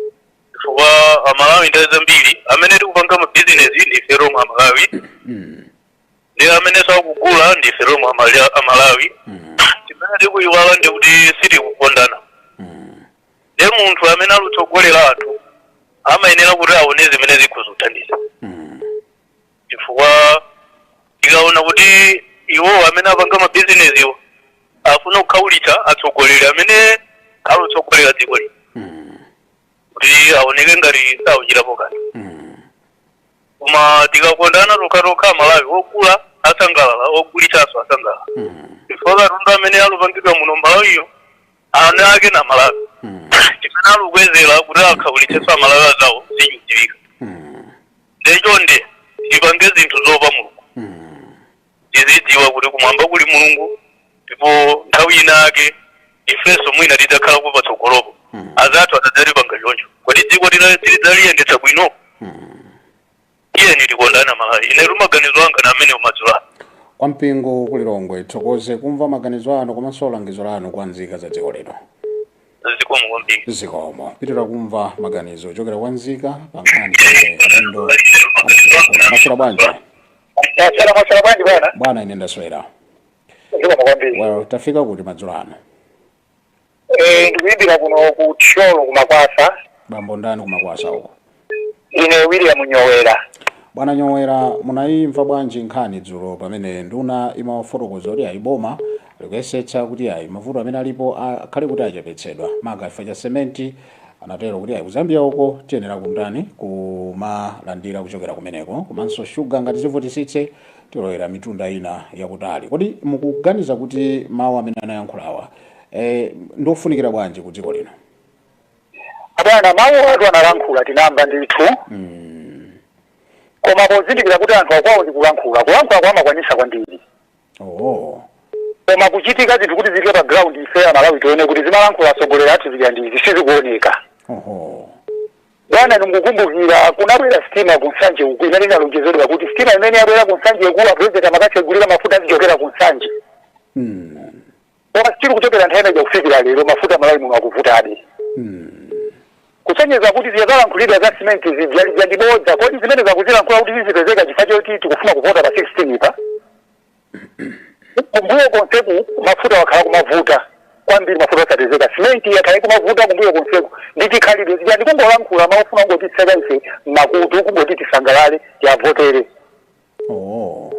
chifukwa amalawi nthawi zambiri amene tikupanga mabizinesi ndife romwe amalawi ndi amenenso akugula ndife romwe amala- amalawi chimene tikuyiwala ndi kuti sitikukondana ndiye munthu amene alutsogolera anthu amayenera kuti aone zimene zikuwathandiza chifukwa tikaona kuti iwo amene apanga mabizinesiwo afuna kukhaulitsa atsogoleri amene alutsogolera dziko lino kuti aoneke ngati sakuchitapo kanthu koma tikakondana tokhatokha amalawi ogula asangalala ogulitsanso asangalala chifukwa katundu amene alupangidwa muno m'malawiyo eni ake ndi amalawi chimene alikukwezera kuti akhaulitsenso amalawi anzawo sichidziwika nde chonde tipange zinthu zoopa mulungu tizidziwa kuti kumwamba kuli mulungu ndipo nthawi ina yake ifenso mwina tidzakhala patsogolopo anzathu atadzatipanga choncho kodi dziko tila- tilidzaliyendetsa bwino tiyeni tikondane amalawi ine maganizo anga ndi amenewo madzulo ano kwa mpingo ku lilongwe tithokoze kumva maganizo anu komanso langizo lanu kwa nzika za dziko lino zikomo kwambiri zikomo tipitirize kumva maganizo ochokera kwa nzika pa nkhani zimene adindo adayankhula mwaswera bwanji mwaswera mwaswera bwanji bwana bwana ine ndaswera zikomo kwambiri well tafika kuti madzulo ano Eh, ndikuyimbira kuno ku thyolo kumakwasa bambo ndani kumakwasa uko ine william nyowera bwana nyowera munayimva bwanji nkhani dzulo pamene nduna imawafotokoza kuti ayi boma likuyesetsa kuti ayi mavuto amene alipo a- akhale kuti achepetsedwa maka if cha sementi anatero kuti ayi kuzambia uko tiyenera kumtani kumalandira kuchokera kumeneko komanso shuga ngati zivutisitse tilowera mitunda ina yakutali kodi mukuganiza kuti mawu amene anayankhulawa eh, ndi ofunikira bwanji ku dziko lino abwana mawu atu analankhula tinamva ndithu mm. koma pozindikira kuti anthu akwawo ndi kulankhula kulankhulako amakwanitsa kwambiri oh. koma kuchitika zinthu kuti zifike pa ground ife amalawi tione kuti zimalankhula atsogoleri athu zija ndiye sizikuoneka oh. bwana ndikukumbukira kunabwera sitima ku nsanje uku imene inalonjezedwa kuti sitima imene yabwera ku nsanje kuja apurezidenti amakatsegulira mafuta azichokera ku nsanje mm. Koma still kuchokera nthawi imeneja kufikira lero mafuta Malawi muno akuvutadi. Kusonyeza kuti zija zalankhulidwa za cement zija lija ndi bodza. Kodi zimene zakuzilankhula kuti zizipezeka chifukwa choti tikufuna kuvota pa 16 pa? Kumbuyo konseku mafuta akhala kumavuta kwambiri mafuta osapezeka. Cement yakhala kumavuta kumbuyo konseku ndi chikhalidwe zija ndi kungolankhula akufuna kungotitseka ife makutu kungoti tisangalale tiwavotere. Oh.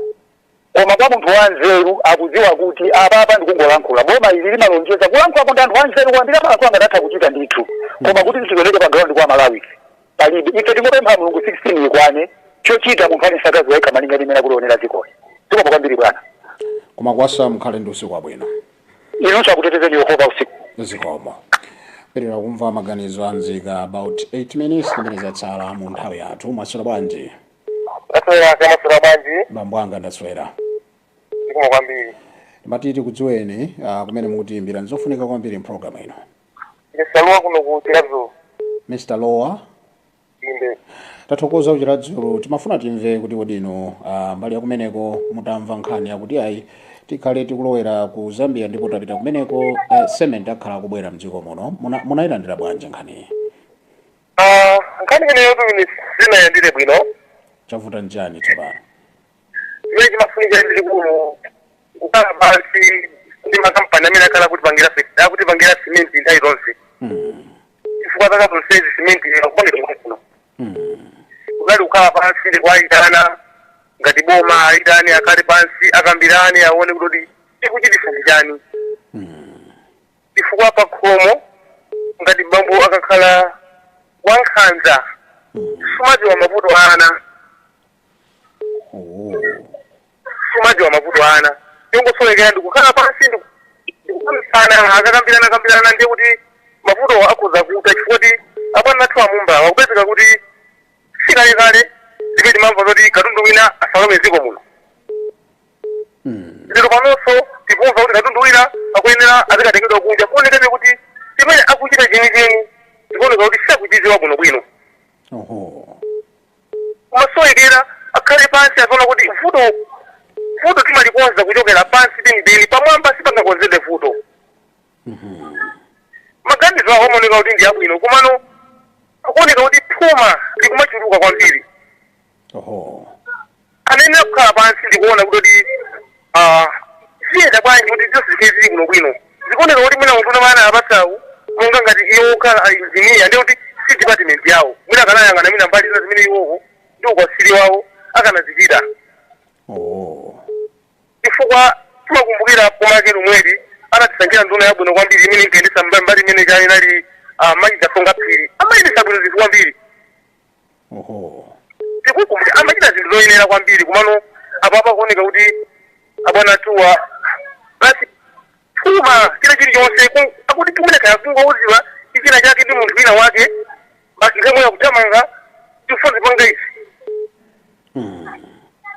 Koma kwa munthu wanzeru akudziwa kuti apapa ndikungolankhula. Boma ili limalonjeza kulankhulako ndi anthu anzeru kwambiri amalankhula ngati atha kuchita ndithu. Koma kuti zizioneke pa ground kwa Malawi palibe. Ife tingopempha Mulungu 16 ikwane chochita munthu aliyense akadziwa yekha malinga ndi mmene akulionera dzikoli. Zikomo kwambiri bwana. ku makwasa mukhale ndi usiku wabwino Inunso akutetezeni Yehova usiku. zikomo tipitirize kumva maganizo a nzika about 8 minutes zimene zatsala mu nthawi yathu mwaswera bwanji Ndaswera mwaswera bwanji bambo anga ndaswera zikomo kwambiri timati tikudziweni ah, kumene mukutiyimbira ndizofunika kwambiri mpulogalamu ino ndi lowa kuno ku chiradzulu mr lowa inde tathokoza kuchiradzulu timafuna timve kuti kodi inu ah, mbali ya kumeneko mutamva nkhani yakuti ayi tikhale tikulowera ku zambia ndipo tapita kumeneko eh, cement akhala akubwera mdziko muno Muna- munayilandira bwanji nkhaniyi Ah, nkhani imeneyo sindinayilandire bwino chavuta nchani tsopano chimene chimafunika ndi chikulu kukhala pansi ndi makampani amene akhala akutipangira fe- akutipangira simenti nthawi zonse Mm, chifukwa zaka zonsezi simenti akupangira kuno mm, kunali kukhala pansi ndi kuayitana ngati boma ayitane akhale pansi akambirane aone kuti chikuchititsa ndi chani mm. chifukwa pakhomo ngati bambo akakhala wankhanza sumadziwa mavuto a ana Oh. sumadziwa mavuto a ana chongosowekera ndikukhala pansi ndiku- ndikukambirana akakambirana kambirana ndiye kuti mavuto akhoza kutha chifukwa kuti abwana athu a Mumbawo akupezeka kuti sikalekale ndipo timamva zoti katundu wina asalowe dziko muno lero panonso tikumva kuti katundu wina akuyenera azikatengedwa kunja kuonekeratu kuti chimene akuchita chenicheni zikuoneka kuti sakuchidziwa bwinobwino oho komasowekera akhale pansi aziona kuti vuto vuto timalikonza kuchokera pansi penipeni pamwamba sipangakonzedwe vuto maganizo awo amaoneka kuti ndi abwino komano akuoneka kuti phuma likumachuluka kwambiri oho anayenera kukhala pansi ndikuona kuti kuti ah, ziyenda bwanji kuti zonse zikhale zili bwinobwino zikuoneka kuti mwina munthu amene amupatsayu monga ngati iwo okhala a engineer ndi kuti si department yawo mwina akanayang'ana mwina mbali zina zimene iwowo ndi ukatswiri wawo akanazichita oho chifukwa timakumbukira boma lake lomweli anatisankhira nduna yabwino kwambiri imene inkayendetsa mbali mbali imene kale inali ah, mayi Kazonga Phiri amayendetsa bwino zinthu kwambiri oho tikukumbukira amachita zinthu zoyenera kwambiri komano apapa kuoneka kuti abwana athuwa basi phuma china chilichonse ku- akuti tumene kaya kungouziwa china chake ndi munthu wina wake basi nthawi yomweyo akuthamanga tifuna tipange izi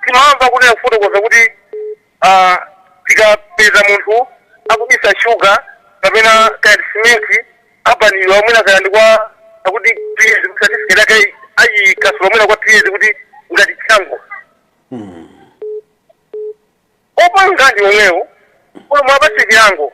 timamva kunena kufotokoza kuti a Tikapeza munthu akubisa sugar kapena kaya ndi cement abanidwa mwina kaya ndi kwa akuti two years kuti certificate yake ayi- ayikasula mwina kwa two years kuti ngati chilango opanga ndi omwewo umo muwapatse chilango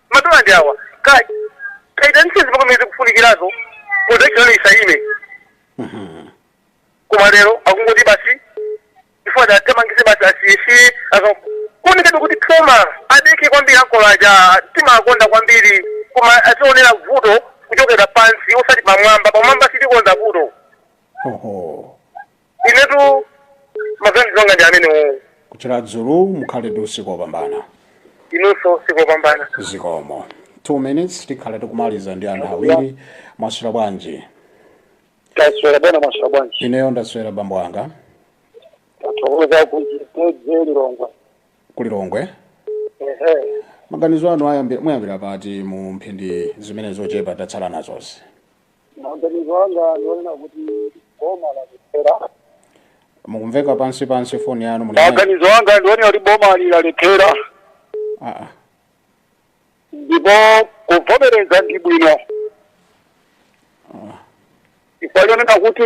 madola ndi awa kaitanitseni zipangizo zimene zikufunikirazo production isaime koma lero akungoti basi iwowa athamangitse basi asiyesiye kufunikabe kuti phuma adekhe kwambiri ankolowa timawakonda kwambiri koma azionera vuto kuchokera pansi osati pamwamba pamwamba sitikonza vuto oho inetu maganizo anga ndi amenewo kuChiradzulu mukhale ndi usiku wopambana inunso usiku wopambana zikomo 2 minutes tikhale tikumaliza ndi anthu awiri mwaswera bwanji taswera bwana mwaswera bwanji ineyo ndaswera bambo anga tathokoza kuchitedze lilongwe kulilongwe ehe maganizo anu ayambi- muyambira pati mu mphindi zimene zochepa tatsala nazozi maganizo anga ndi onena kuti boma lalephera mukumveka pansi pansi foni yanu maganizo anga ndi onena kuti boma lalephera Ah, ah. ndipo kuvomereza ndi bwino chifukwa chonena kuti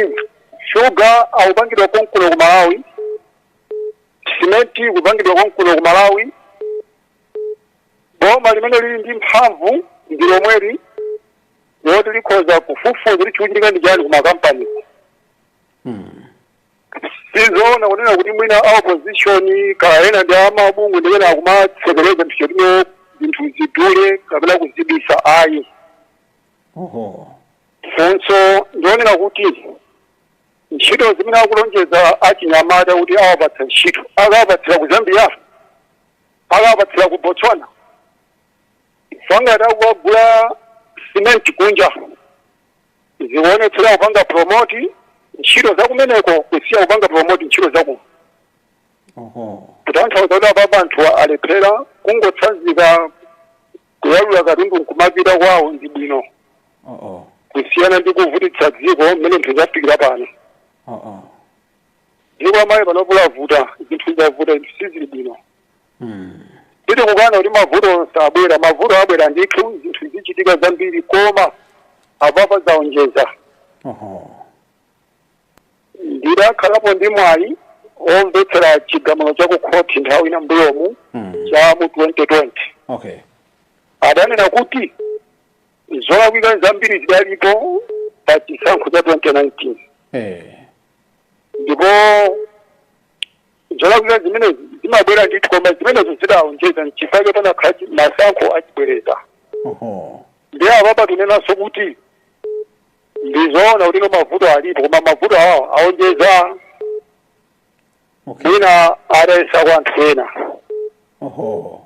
shuga akupangidwa konkuno ku malawi simenti ikupangidwa konkuno ku malawi boma limene lili ndi mphamvu ndi lomweli loti likhoza kufufuza kuti chikuchitika ndi chani kumakampani sizoona kunena kuti mwina a opposition kaena ndi amabungwe ndi amene akumatsekereza ndi cholinga choti zinthu zidule kapena kuzibisa ayi oho funso ndi lonena kuti ntchito zimene akulonjeza achinyamata kuti awapatsa ntchito akawapatsira kuzambia akawapatsira ku botswana chifukwa ngati akukagula simenti kunja zikuonetsera kupanga promoti ntchito zakumeneko kusiya kupanga promoti ntchito zakuno oho kutanthauza kuti apapa anthu alephera kungotsanzika kuyalula katundu nkumapita kwawo ndi bwino oo kusiyana ndi kuvutitsa dziko mmene zinthu zafikira pano oo dziko la Malawi panopo lavuta zinthu zavuta zinthu sizili bwino Mm. sitikukana kuti mavuto sabwera mavuto abwera ndithu zinthu zikuchitika zambiri koma apapa zaonjeza Oho. ndidakhalapo ndi mwayi omvetsera chigamulo cha kukhoti nthawi ina mbuyomu Mm. cha mu 2020 Okay. adanena kuti zolakwika zambiri zidalipo pa chisankho cha 2019 eh. ndipo zolakwika zimene zimabwera ndithu koma zimenezo zidaonjeza nchifukwa chake panakhala masankho achibwereza Oho. ndiye apapa tinenanso kuti ndizoona kuti no mavuto alipo koma mavuto awo aonjeza Okay. mwina adayesa kwa anthu ena Oho.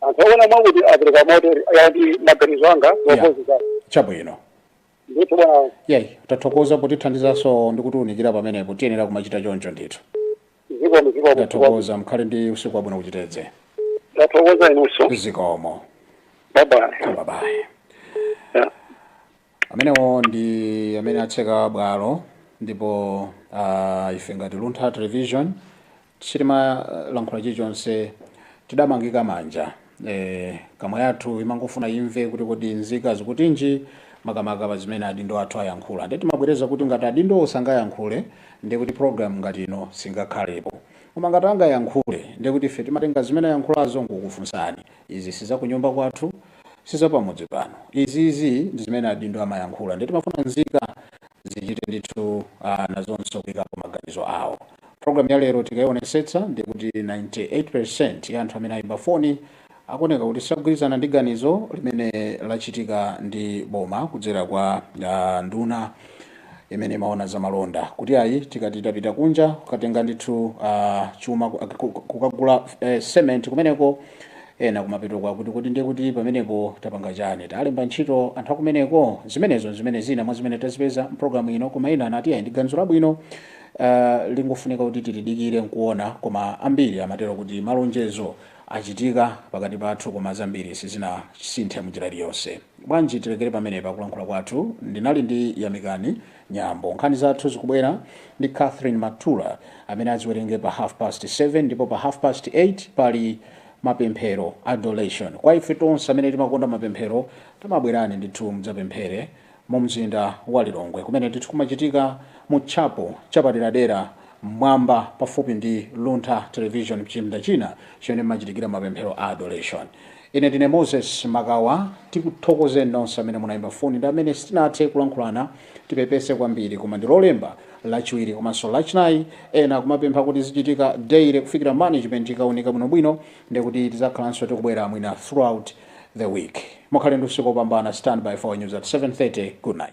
anthu okwana mwakuti apereka moto ya ndi maganizo anga Yeah. opposite chabwino ndithu bwana yeyi tathokoza potithandizanso ndi kutiunikira pamenepo tiyenera kumachita choncho ndithu zikomo zikomo tathokoza mkhale ndi usiku wabwino kuchitedze tathokoza inunso zikomo babayi babayi Yeah. Amenewo ndi amene atseka bwalo ndipo uh, ife ngati Luntha Television sitimalankhula chilichonse tidamangika manja eh, kamwa yathu imangofuna imve kuti kodi nzika zikutinji makamaka pa zimene adindo athu ayankhula ndiye timabwereza kuti ngati adindowo sangayankhule ndi kuti program ngati ino singakhalepo koma ngati angayankhule ndi kuti ife timatenga zimene ayankhulazo nkukufunsani Izi sizakunyumba kwathu, sizapamudzi pano izi, izi ndizimene adindo amayankhula nde timafuna nzika zichite ndithu aah nazonso kuikapo maganizo awo. Program ya lero tikaionetsetsa ndiye kuti 98% ya anthu amene aimba foni akuoneka kuti sagwirizana ndi ganizo limene lachitika ndi boma kudzera kwa aah nduna. imene imaona za malonda kuti ayi tikati tapita kunja kukatenga ndithu uh, chuma ku- ku- ku- kukagula uh, cement kumeneko ena kumapeto kwake kuti ndiye kuti pamenepo tapanga chani talemba ntchito anthu akumeneko zimenezo zimene zina mwa zimene tazipeza mpulogalamu ino koma ena anati ayi ndi ganizo labwino uh, lingofunika kuti tilidikire nkuona koma ambiri amatero kuti malonjezo achitika pakati pathu koma zambiri sizinasinthe mnjira iliyonse Bwanji tilekere pamenepa kulankhula kwathu. Ndinali ndi Yamikani Nyambo. Nkhani zathu zikubwera ndi Catherine Matula amene aziwerenge pa half past 7 ndipo pa half past 8 pali mapemphero, adoration. Kwa ife tonse amene timakonda mapemphero tamabwerani ndithu mudzapemphere mu mzinda wa Lilongwe kumene ndithu kumachitika mu chapel chapaderadera mmwamba pafupi ndi Luntha Television mchipinda china chimene mmachitikira mapemphero a adoration. Ine ndine Moses Makawa. Tikuthokozeni nonse amene munayimba foni ndi amene sitinathe kulankhulana. Tipepese kwambiri koma ndi lolemba, lachiwiri komanso lachinayi. Ena akumapempha kuti izichitika daily kufikira management ikawunika bwinobwino ndekuti tizakhalanso tikubwera mwina throughout the week. Mukhale ndi usiku opambana. Stand by for our news at 7:30. Good night.